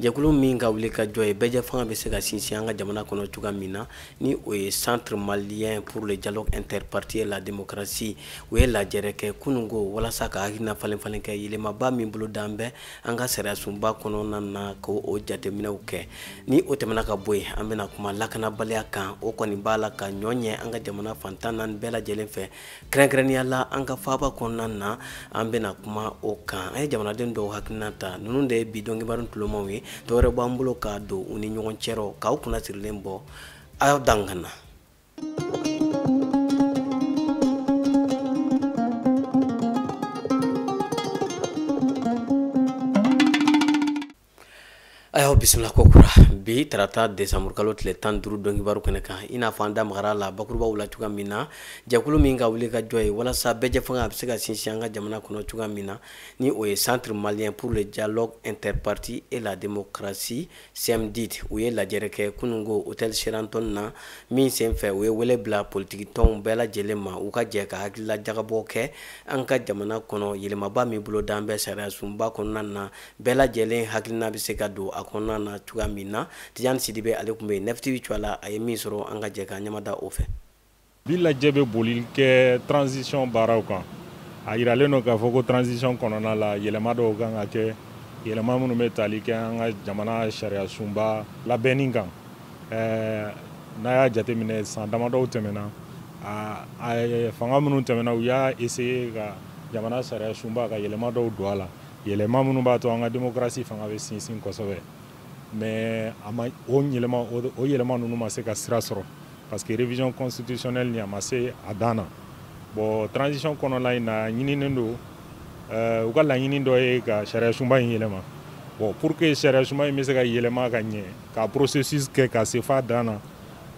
jɛkulu min ka wulikajɔ ye bɛɛjɛfanga bɛ se ka sinsin an ka jamana kɔnɔ cogoya min na ni o ye centre malien pour le dialogue interparti et la démocratie u ye lajɛrɛ kɛ kununko walasa ka hakilina falenfalen kɛ yɛlɛmaba min bolodalen bɛ an ka sariyasunba kɔnɔna na ka o jateminɛw kɛ ni o tɛmɛna ka bɔ yen an bɛna kuma lakanabaliya kan o kɔni b'a la ka ɲɔ ɲɛ an ka jamana fan tan naani bɛɛ lajɛlen fɛ kɛrɛnkɛrɛnnenya la an ka faaba kɔnɔna na an bɛna kuma o kan an ye jamanaden dɔw hakilina ta ninnu de ye bi dɔnkibaru tulomaw ye dɔwɛrɛ b'an bolo ka don u ni ɲɔgɔn cɛ rɔ k'aw kunna sirilen bɔ aw dan ka na ayiwa bisimila kokura bi tarata desanburukalo tile tan duuru dɔnkibaru kɛnɛ kan i n'a fɔ an da magara la bakurubaw la cogoya min na jɛkulu min ka wulikajɔ ye walasa bɛɛjɛfanga a bɛ se ka sinsin an ka jamana kɔnɔ cogoya min na ni o ye centre malien pour le dialogue interparti et la démocratie cmdid u ye lajɛrɛ kɛ kununko hôtel sheraton na min senfɛ u ye wele bila politikitɔnw bɛɛ lajɛlen ma u ka jɛ ka hakilila jagabɔ kɛ an ka jamana kɔnɔ yɛlɛmaba min bolodalen bɛ sariyasunba kɔnɔna na bɛɛ lajɛlen hakilina bɛ se ka don a kɔnɔna na cogoya min na tijani sidibe ale tun bɛ yen nɛfitibi tɔgɔ la a ye min sɔrɔ an ka jɛ ka ɲɛmada o fɛ bi lajɛ bɛ boli kɛ transition baaraw kan a yiralen don k'a fɔ ko transition kɔnɔna la yɛlɛma dɔw kan ka kɛ yɛlɛma minnu bɛ tali kɛ an ka jamana sariyasunba labɛnni kan eh, n'a y'a jateminɛ san damadɔw tɛmɛna fanga minnu tɛmɛna u y'a essayer ka jamana sariyasunba ka yɛlɛma dɔw don a la yɛlɛma minnu b'a to an ka demokarasi fanga bɛ sinsin kosɛbɛ mais a ma o yɛlɛma o yɛlɛma ninnu ma se ka sira sɔrɔ parce que révision constitutionnelle nin a ma se a dan na bon transition kɔnɔna in na ɲininen don eh, u ka laɲini dɔ ye ka sariyasunba in yɛlɛma bon pour que sariyasunba in bɛ se ka yɛlɛma ka ɲɛ ka processus kɛ ka se f'a dan na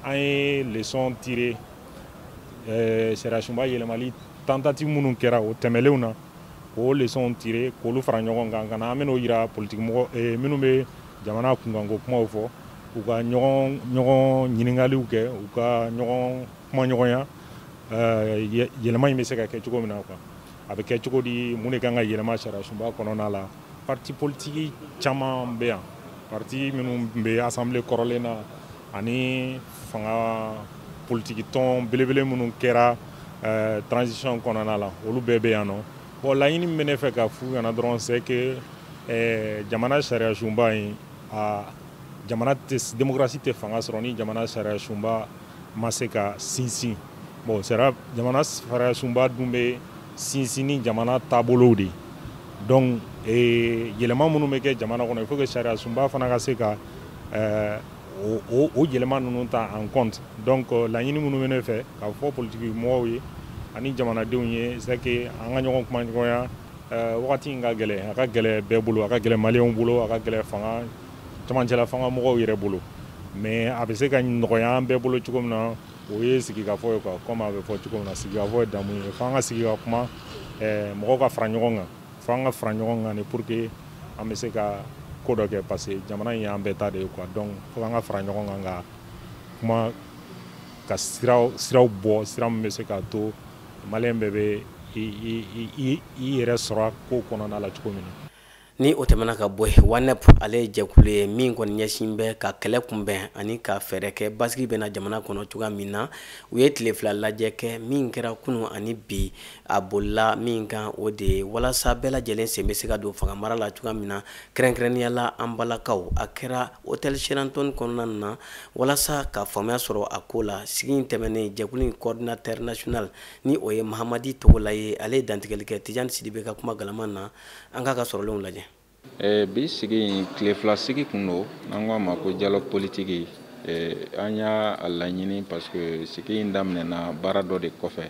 an ye leçon tirer eh, sariyasunba yɛlɛmali tentative minnu kɛra o tɛmɛlenw na k'o leçonw tirer k'olu fara ɲɔgɔn kan ka na an bɛn'o yira politikimɔgɔ eh, minnu bɛ jamana kunkanko kumaw fɔ u ka ɲɔgɔn ɲɔgɔn ɲininkaliw kɛ u ka ɲɔgɔn kumaɲɔgɔnya eh, yɛlɛma in bɛ se ka kɛ cogo min na quoi a bɛ kɛ cogo di mun de kan ka yɛlɛma sariyasunba kɔnɔna la parti politiki caman bɛ yan parti minnu bɛ assemblée kɔrɔlen na ani fanga politiki tɔn belebele minnu kɛra eh, transition kɔnɔna la olu bɛɛ bɛ yan nɔ bon laɲini min bɛ ne fɛ ka f'u ɲɛna dɔrɔn c'est que eh, jamana sariya sunba in a jamana tɛ démocratie tɛ fanga sɔrɔ ni jamana sariya sunba ma se ka sinsin bon sariya jamana sariya sunba dun bɛ sinsin ni jamana taabolow de ye donc eh, yɛlɛma minnu bɛ kɛ jamana kɔnɔ il faut que sariya sunba fana ka se ka eh, o yɛlɛma ninnu ta en compte donc euh, laɲini minnu bɛ ne fɛ k'a fɔ politiki mɔgɔw ye ani jamanadenw ye c'est que an ka ɲɔgɔn kumaɲɔgɔnya euh, wagati in ka gɛlɛn a ka gɛlɛn bɛɛ bolo a ka gɛlɛn maliyɛnw bolo a ka gɛlɛn fanga camancɛla fanga mɔgɔw yɛrɛ bolo mais a bɛ se ka nɔgɔya an bɛɛ bolo cogo min na o ye sigikafɔ ye quoi comme a bɛ fɔ cogo min na sigikafɔ ye damu ye f'an ka sigi ka kuma euh, mɔgɔw ka fara ɲɔgɔn kan fo an ka fara ɲɔgɔn kan de pour que an bɛ se ka ko dɔ kɛ parce que jamana in y'an bɛɛ ta de ye quoi donc fo an ka fara ɲɔgɔn kan ka kuma ka siraw bɔ sira min bɛ se k'a to maliyɛn bɛɛ bɛ i yɛrɛ sɔrɔ a ko kɔnɔna la cogo min na ni o tɛmɛna ka bɔ yen WANEP ale ye jɛkulu ye min kɔni ɲɛsin bɛ ka kɛlɛ kunbɛn ani ka fɛɛrɛ kɛ basigi bɛ na jamana kɔnɔ cogoya min na u ye tile fila lajɛ kɛ min kɛra kunu ani bi a bolila min kan o de ye walasa bɛɛ lajɛlen sen bɛ se ka don fanga mara la cogoya min na kɛrɛnkɛrɛnnenya la an balakaw a kɛra hôtel Sheraton kɔnɔna na walasa ka faamuya sɔrɔ a ko la sigi in tɛmɛnen jɛkulu in coordinateur national ni o ye Mahamadi Togola ye ale ye dantigɛli kɛ Tijani Sidibe ka kuma galama na an k'a ka sɔrɔlenw lajɛ Eh, bi sigi in tile fila sigi kun don n'an k'a ma ko dialogue politique eh, an y'a laɲini parce que sigi in daminɛna baara dɔ de kɔfɛ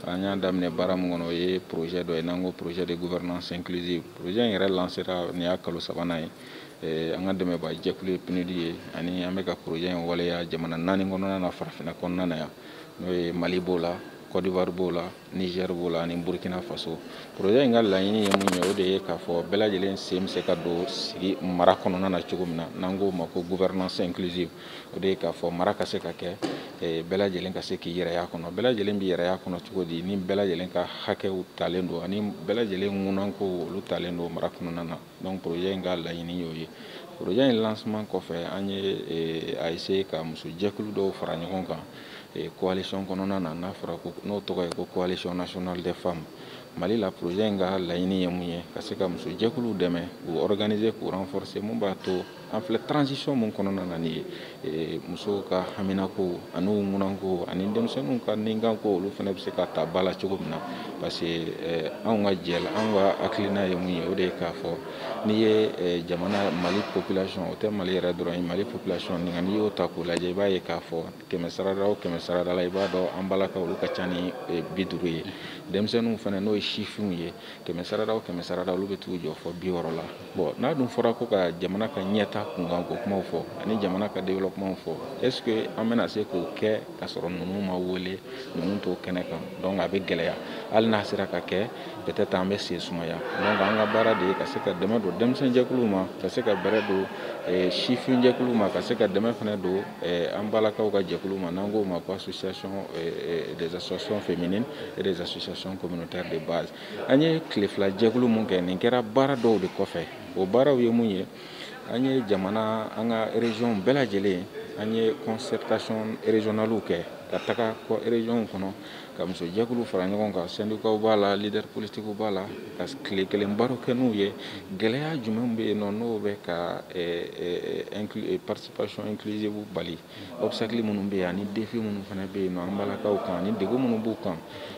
an y'a daminɛ baara min kɔnɔ o ye projet dɔ ye n'an ko projet de gouvernance inclusive projet in yɛrɛ lancera nin y'a kalo sabanan ye eh, an ka dɛmɛbaa jɛkulu ye PNUD ye ani an bɛ ka projet in waleya jamana naani kɔnɔna na farafinna kɔnɔna na yan n'o ye Mali b'o la Côte d'Ivoire b'o la Niger b'o la ani Burkina Faso projet in ka laɲini ye mun ye o de ye k'a fɔ bɛɛ lajɛlen sen bɛ se ka don sigi mara kɔnɔna na cogo min na n'an k'o ma ko gouvernance inclusive o de ye k'a fɔ mara ka se ka kɛ eh, bɛɛ lajɛlen ka se k'i yɛrɛ y'a kɔnɔ bɛɛ lajɛlen b'i yɛrɛ y'a kɔnɔ cogo di ni bɛɛ lajɛlen ka hakɛw talen don ani bɛɛ lajɛlen ŋunankow olu talen don mara kɔnɔna na donc projet in ka laɲini y'o ye projet in lancement kɔfɛ an ye a essayer ka muso jɛkulu dɔw fara ɲɔgɔn kan coalition kɔnɔna na n'a fɔra ko n'o tɔgɔ ye ko coalition nationale des femmes Mali la projet in ka laɲini ye mun ye ka se ka muso jɛkuluw dɛmɛ k'u organiser k'u renforcer mun b'a to an filɛ transition mun kɔnɔna na nin ye musow ka haminako ani u ŋunanko ani denmisɛnninw ka ninkanko olu fana bɛ se ka ta ba la cogo min na parce que anw ka jɛ anw ka hakilina ye mun ye o de ye k'a fɔ n'i ye jamana mali population o tɛ mali yɛrɛ dɔrɔn ye mali population nin n'i y'o ta k'o lajɛ i b'a ye k'a fɔ kɛmɛ sarada o kɛmɛ sarada la i b'a dɔn an balakaw olu ka ca ni bi duuru ye denmisɛnninw fana n'o ye sifinw ye kɛmɛ sarada o kɛmɛ sarada olu bɛ t'u jɔ fɔ bi wɔɔrɔ la Bon n'a dun fɔra ko ka jamana ka ɲɛta kunkanko kumaw fɔ ani jamana ka développement fɔ est-ce que an bɛna se k'o kɛ ka sɔrɔ ninnu ma wele ninnu to kɛnɛ kan donc a bɛ gɛlɛya hali n'a sera ka kɛ peut-être an bɛ sen sumaya donc an ka baara de ye ka se ka dɛmɛ don denmisɛnninjɛkulu ma ka se ka bɛrɛ don eh, sifinjɛkulu ma ka se ka dɛmɛ fana don eh, an balakaw ka jɛkulu ma n'an k'o ma ko association eh, des associations féminines et des associations communautaires de base an ye tile fila jɛkulu mun kɛ nin kɛra baara dɔw de kɔfɛ o baaraw ye mun ye an ye jamana an ka région bɛɛ lajɛlen an ye concertation régionale kɛ ka taga région kɔnɔ ka musojɛkulu fara ɲɔgɔn kan syndicats b'a la leader politiques b'a la ka tile kelen baro kɛ n'u ye gɛlɛya jumɛn bɛ yen nɔ n'o bɛ ka eh, eh, eh, participation inclusive bali obstacle minnu bɛ yen ani défi minnu fana bɛ yen nɔ an balakaw kan ani degun minnu b'u kan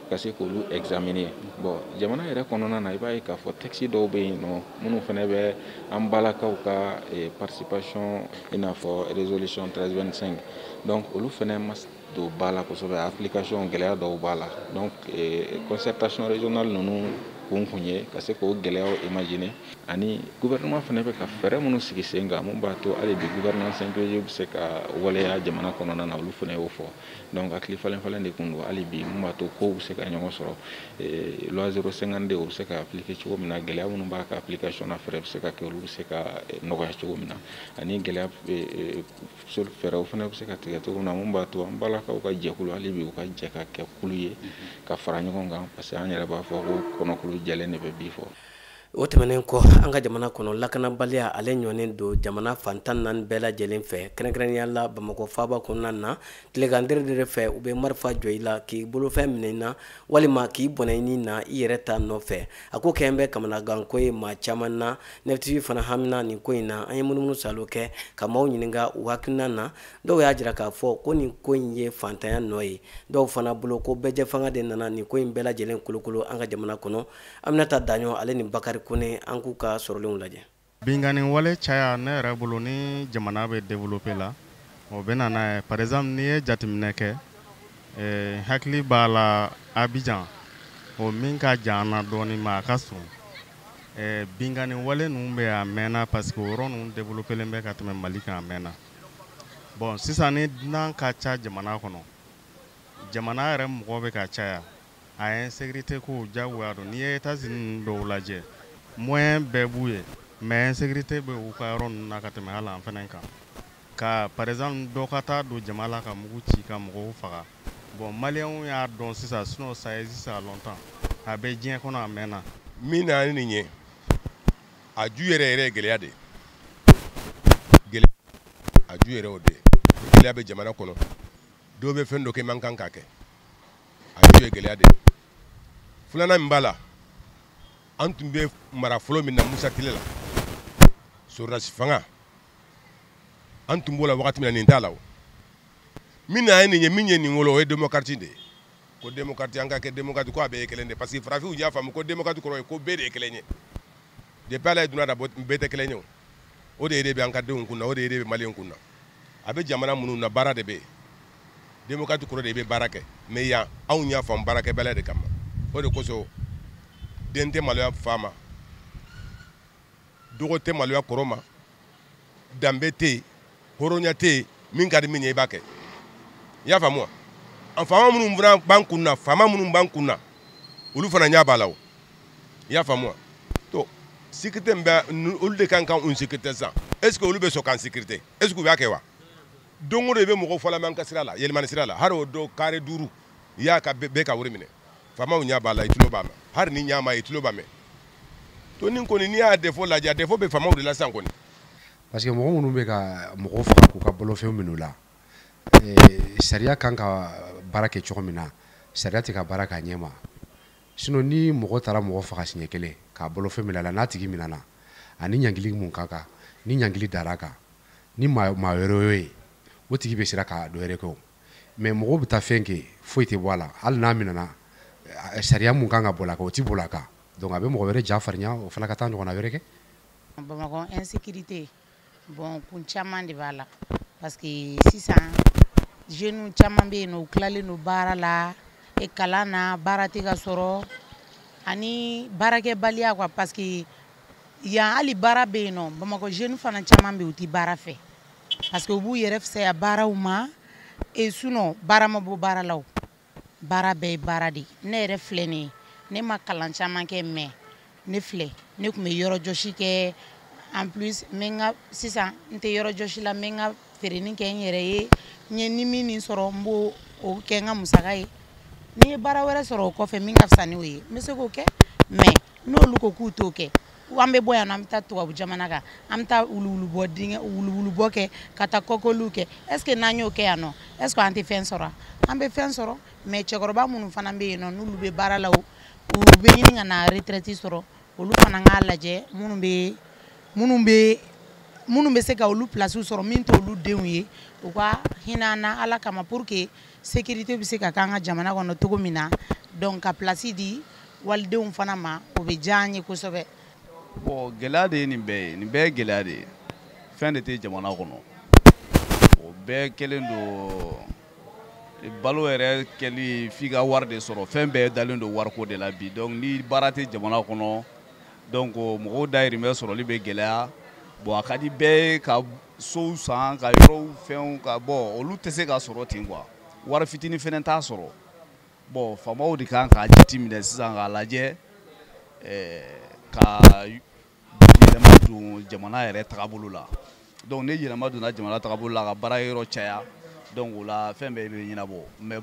ka se k'olu examiner bon jamana yɛrɛ kɔnɔna na i b'a ye k'a fɔ texte dɔw bɛ yen nɔ minnu fana bɛ an balakaw ka eh, participation i n'a fɔ résolution 1325 donc olu fana ma don ba la kosɛbɛ application gɛlɛya dɔw b'a la donc eh, concertation régionale ninnu kun kun ye ka se k'o gɛlɛyaw imaginer ani gouvernement fana bɛ ka fɛɛrɛ minnu sigi sen kan mun b'a to hali bi gouvernance inclusive bɛ se ka waleya jamana kɔnɔna na olu fana y'o fɔ donc hakili falen falen de tun don hali bi mun b'a to kow bɛ se ka ɲɔgɔn sɔrɔ eh, loi 052 o bɛ se ka appliquer cogo min na gɛlɛya minnu b'a ka application na fɛɛrɛ bɛ se ka kɛ olu bɛ se ka eh, nɔgɔya cogo min na ani gɛlɛya eh, fɛɛrɛw fana bɛ se ka tigɛ cogo min na mun b'a to an balakaw ka jɛkulu hali bi u ka jɛ ka kɛ kulu ye ka fara ɲɔgɔn kan parce que an yɛrɛ b'a fɔ ko kɔnɔkulu jɛlen de bɛ bi fɔ o tɛmɛnen kɔ an ka jamana kɔnɔ lakanabaliya ale ɲɔnen don jamana fan tan ni naani bɛɛ lajɛlen fɛ kɛrɛnkɛrɛnnenya la bamakɔ faaba kɔnɔna na tilegan dɛrɛdɛrɛ fɛ u bɛ marifa jɔ i la k'i bolofɛn minɛ i na walima k'i bɔnɛ i ni na i yɛrɛ ta nɔfɛ a ko kɛlen bɛ kamanaganko ye maa caman na NEF-TV fana hamina nin ko in na an ye munumunu salo kɛ ka maaw ɲininka u hakilina na dɔw y'a jira k'a fɔ ko nin ko in ye fantanya nɔ ye dɔw fana bolo ko bɛɛjɛ fanga de nana nin ko in bɛɛ lajɛlen kolokolo an ka jamana kɔnɔ Aminata Daɲɔn ale ni Bakari Kone an k'u ka sɔrɔlenw lajɛ. Binkanni wale caya ne yɛrɛ bolo ni jamana bɛ développer la o bɛ na n'a ye par exemple n'i ye jateminɛ kɛ eh, hakili b'a la Abidjan o min ka jan an na dɔɔni mais a ka surun eh, binkanni wale ninnu bɛ a mɛnna parce que o yɔrɔ ninnu développelen bɛ ka tɛmɛ Mali kan a mɛnna bon sisan ni dunan ka ca jamana kɔnɔ jamana yɛrɛ mɔgɔ bɛ ka caya A insécurité ko jagoya don n'i ye États-Unis dɔw lajɛ moyen bɛɛ b'u ye mais insécurité bɛ u ka yɔrɔ ninnu na ka tɛmɛ hali an fana kan ka par exemple dɔ ka taa don jama la ka mugu ci ka mɔgɔw faga bon maliyɛnw y'a dɔn sisan sinon ça existe à longtemps a bɛ diɲɛ kɔnɔ a mɛnna min na ni nin ye a ju yɛrɛ yɛrɛ gɛlɛya de a ju yɛrɛ o de gɛlɛya bɛ jamana kɔnɔ dɔw bɛ fɛn dɔ kɛ man kan ka kɛ a bɛɛ ye gɛlɛya de ye filanan min b'a la an tun bɛ mara fɔlɔ min na Musa tile la sɔrɔdasi fanga an tun b'o la wagati min na nin t'a la o min na a ye nin ye min ye nin wolo o ye démocratie de ye ko démocratie an ka kɛ démocratie ko a bɛɛ ye kelen de parce que farafinw y'a faamu ko démocratie kɔrɔ ye ko bɛɛ de ye kelen ye depuis Ala ye duniya da bɛɛ tɛ kelen ye o o idée de bɛ an ka denw kun na o idée de bɛ maliyɛnw kun na a bɛ jamana minnu na baara de bɛ yen démocratie kɔrɔ de i bɛ baara kɛ mais yan anw y'a faamu baarakɛbaliya de kama o de kosɔn den tɛ maloya fa ma dɔgɔ tɛ maloya kɔrɔ ma danbe tɛ yen hɔrɔnya tɛ yen min ka di min ye i b'a kɛ i y'a faamu wa an faama minnu fana b'an kun na faama minnu b'an kun na olu fana ɲɛ b'a la o i y'a faamu wa to sécurité min bɛ olu de kan ka an sécurité sisan est ce que olu bɛ sɔn k'an sécurité est ce que u b'a kɛ wa don o don i bɛ mɔgɔw fɔlama an ka sira la Yelimani sira la hari o don kare duuru u y'a ka bɛɛ ka wari minɛ faamaw ɲɛ b'a la i tulo b'a mɛn hari n'i ɲa m'a ye i tulo b'a mɛn to nin kɔni n'i y'a défaut lajɛ a défaut bɛ faamaw de la sisan kɔni parce que mɔgɔ minnu bɛ ka mɔgɔw faga k'u ka bolofɛnw minɛ u la eh, sariya kan ka baara kɛ cogo min na sariya tɛ ka baara k'a ɲɛ ma Sinon ni mɔgɔ taara mɔgɔ faga siɲɛ kelen k'a bolofɛn minɛ a la n'a tigi minɛna a ni ɲangili mun ka kan ni ɲangili dar'a kan ni maa wɛrɛ y'o ye o tigi bɛ siran ka dɔ wɛrɛ kɛ o mais mɔgɔw bɛ taa fɛn kɛ foyi tɛ bɔ a la hali n'a minɛna eh, sariya mun kan ka boli a kan o tɛ boli a kan donc a bɛ mɔgɔ wɛrɛ ja farinya o fana ka taa ɲɔgɔnna wɛrɛ kɛ. Bamakɔ insécurité bon kun caman de b'a la parce que sisan jeunes caman bɛ yen nɔ u tilalen don baara la eh kalan na baara tɛ ka sɔrɔ ani baarakɛbaliya quoi parce que yan hali baara bɛ yen nɔ Bamakɔ jeunes fana caman bɛ yen u tɛ baara fɛ parce que u b'u yɛrɛ fisaya baaraw ma et sinon baara ma bɔ baara la o baara bɛɛ ye baara de ne yɛrɛ filɛ nin ye ne ma kalan caman kɛ mais ne filɛ ne tun bɛ yɔrɔjɔsi kɛ en plus n bɛ n ka sisan n tɛ yɔrɔjɔsi la n bɛ n ka feereni kɛ n yɛrɛ ye n ye ni min nin sɔrɔ n b'o kɛ n ka musaka ye ni n ye baara wɛrɛ sɔrɔ o kɔfɛ min ka fisa n'o ye n bɛ se k'o kɛ mais n'olu ko k'u t'o kɛ an bɛ bɔ yan an bɛ taa tubabu jamana kan an bɛ taa wuluwulubɔ dingɛ wuluwulubɔ kɛ ka taa kɔkɔliw kɛ est ce que n'an y'o kɛ yan nɔ est ce que an tɛ fɛn sɔrɔ an bɛ fɛn sɔrɔ mais cɛkɔrɔba minnu fana bɛ yen nɔ n'olu bɛ baara la o u bɛ ɲini ka na retraite sɔrɔ olu fana k'a lajɛ minnu bɛ minnu bɛ minnu bɛ se ka olu place sɔrɔ min t'olu denw ye u ka hinɛ an na ala kama pour que sécurité bɛ se ka k'an ka jamana kɔnɔ cogo min na donc ka place di walidenw fana ma o bɛ diya an ye kosɛbɛ. bon gɛlɛya de ye nin bɛɛ ye nin bɛɛ ye gɛlɛya de ye fɛn de tɛ jamana kɔnɔ o bɛɛ kɛlen don balo yɛrɛ kɛli f'i ka wari de sɔrɔ fɛn bɛɛ dalen don wariko de la bi donc ni baara tɛ jamana kɔnɔ donc mɔgɔw dahirimɛ sɔrɔli bɛ gɛlɛya bon a ka di bɛɛ ye ka sow san ka yɔrɔw fɛnw ka bɔ olu tɛ se ka sɔrɔ ten quoi wari fitinin fɛnɛ t'a sɔrɔ bon faamaw de kan k'a jateminɛ sisan k'a lajɛ eh, ka yɛlɛma don jamana yɛrɛ tagabolo la donc ni yɛlɛma donna jamana tagabolo la ka baara yɔrɔ caya donc o la fɛn bɛɛ bɛ ɲɛnabɔ mais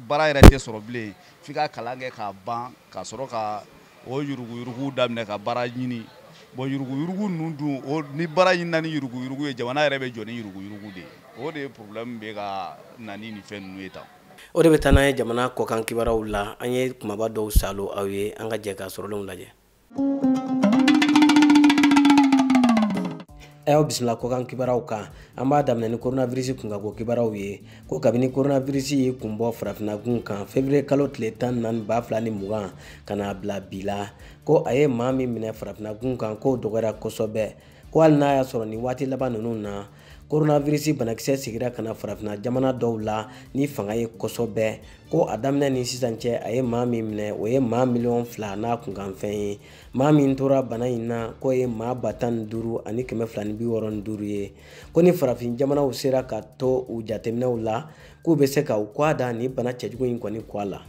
baara yɛrɛ tɛ sɔrɔ bilen f'i ka kalan kɛ k'a ban ka sɔrɔ ka o yuruguyurugu daminɛ ka baara ɲini bon yuruguyurugu ninnu dun o ni baara ɲinina ni yuruguyurugu ye jamana yɛrɛ bɛ jɔ ni yuruguyurugu de ye o de ye problème bɛ ka na ni nin fɛn ninnu ye tan o de bɛ taa n'an ye jamana kɔkan kibaraw la an ye kumaba dɔw saalo aw ye an ka jɛ ka sɔrɔlenw lajɛ a y'aw bisimila kɔkan kibaraw kan an b'a daminɛ ni koronavirisi kunkanko kibaraw ye ko kabini koronavirisi ye kun bɔ farafinagun kan fevriye kalo tile tan ni naani ba fila ni mugan ka n'a bila bi la ko a ye maa min minɛ farafinagun kan k'o dɔgɔyara kosɛbɛ ko hali n'a y'a sɔrɔ nin waati laban ninnu na koronavirisi banakisɛ segira ka na farafina jamana dɔw la ni fanga ye kosɛbɛ ko a daminɛ ni sisan cɛ a ye maa min minɛ o ye maa miliyɔn fila n'a kunkanfɛn ye maa min tora bana in na k'o ye maa ba tan ni duuru ani kɛmɛ fila ni bi wɔɔrɔ ni duuru ye ko ni farafin jamanaw sera ka to u jateminɛw la k'u bɛ se ka u kɔ a da nin bana cɛjugu in kɔni kɔ a la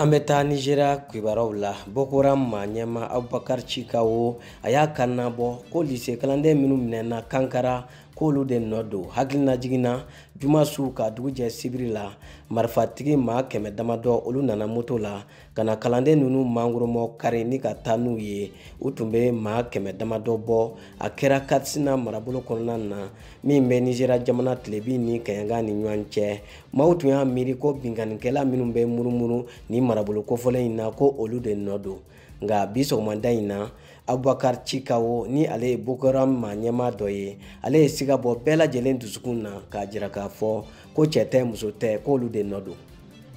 an bɛ taa nizeriya kibaraw la boko haram maa ɲɛmaa abubakar cikawo a y'a kan nabɔ ko lise kalanden minnu minɛna kankara k'olu de nɔ don hakilinajigin na juma su ka dugu jɛ sibiri la marifatigi maa kɛmɛ damadɔ olu nana moto la ka na kalanden ninnu mangoromɔ kari ni ka taa n'u ye u tun bɛ maa kɛmɛ damadɔ bɔ a kɛra katsina marabolo kɔnɔna na min bɛ nizeriya jamana tilebi ni kaɲaga ni ɲɔgɔn cɛ maaw tun y'a miiri ko binkannikɛla minnu bɛ murumuru ni marabolo kofɔlen in na ko olu de nɔ don nka bi sɔgɔmada in na abubakar shekau ni ale ye boko haram maa ɲɛmaa dɔ ye ale ye siga bɔ bɛɛ lajɛlen dusukun na k'a jira k'a fɔ ko cɛ tɛ muso tɛ k'olu de nɔ don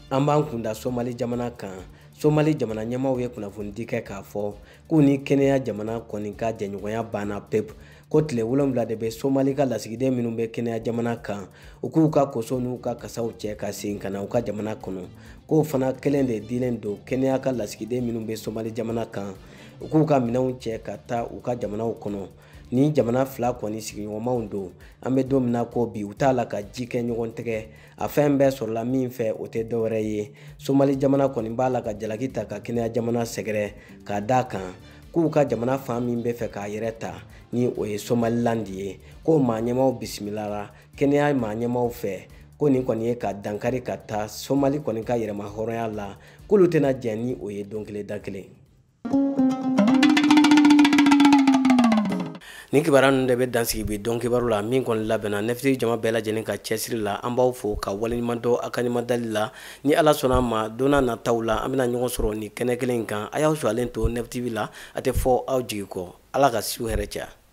an b'an kunda somali jamana kan somali jamana ɲɛmaaw ye kunnafonidi kɛ k'a fɔ k'u ni kenya jamana kɔni ka jɛɲɔgɔnya banna pewu ko tile wolonwula de bɛ somali ka lasigiden minnu bɛ kenya jamana kan u k'u ka koso n'u ka kasaw cɛ ka segin ka na u ka jamana kɔnɔ k'o fana kelen de dilen don kenya ka lasigiden minnu bɛ somali jamana kan u k'u ka minɛnw cɛ ka taa u ka jamanaw kɔnɔ nin jamana fila kɔni sigiɲɔgɔnmaw don an bɛ don min na ko bi u t'a la ka ji kɛ ɲɔgɔn tɛgɛ a fɛn bɛɛ sɔrɔla min fɛ o tɛ dɔwɛrɛ ye somali jamana kɔni b'a la ka jalaki ta ka kenya jamana sɛgɛrɛ k'a d'a kan k'u ka jamana fan min bɛ fɛ k'a yɛrɛ ta ni o ye somaliland ye k'o maa ɲɛmaaw bisimilara kenya maa ɲɛmaaw fɛ ko nin kɔni ye ka dankari ka taa somali kɔni ka yɛrɛma hɔrɔnya la k'olu tɛna jɛn ni o ye don kelen da kelen nin kibaruya ninnu de bɛ dan sigi bi don kibaru la min kɔni labɛnna neuf tv jama bɛɛ lajɛlen ka cɛsiri la an b'aw fo ka waleɲuman dɔn a ka ɲumadali la ni ala sɔnna a ma don nataw la an bɛna ɲɔgɔn sɔrɔ nin kɛnɛ kelen in kan a y'aw suwalen to neuf tv la a tɛ fɔ aw jigi kɔ ala ka su hɛrɛ caya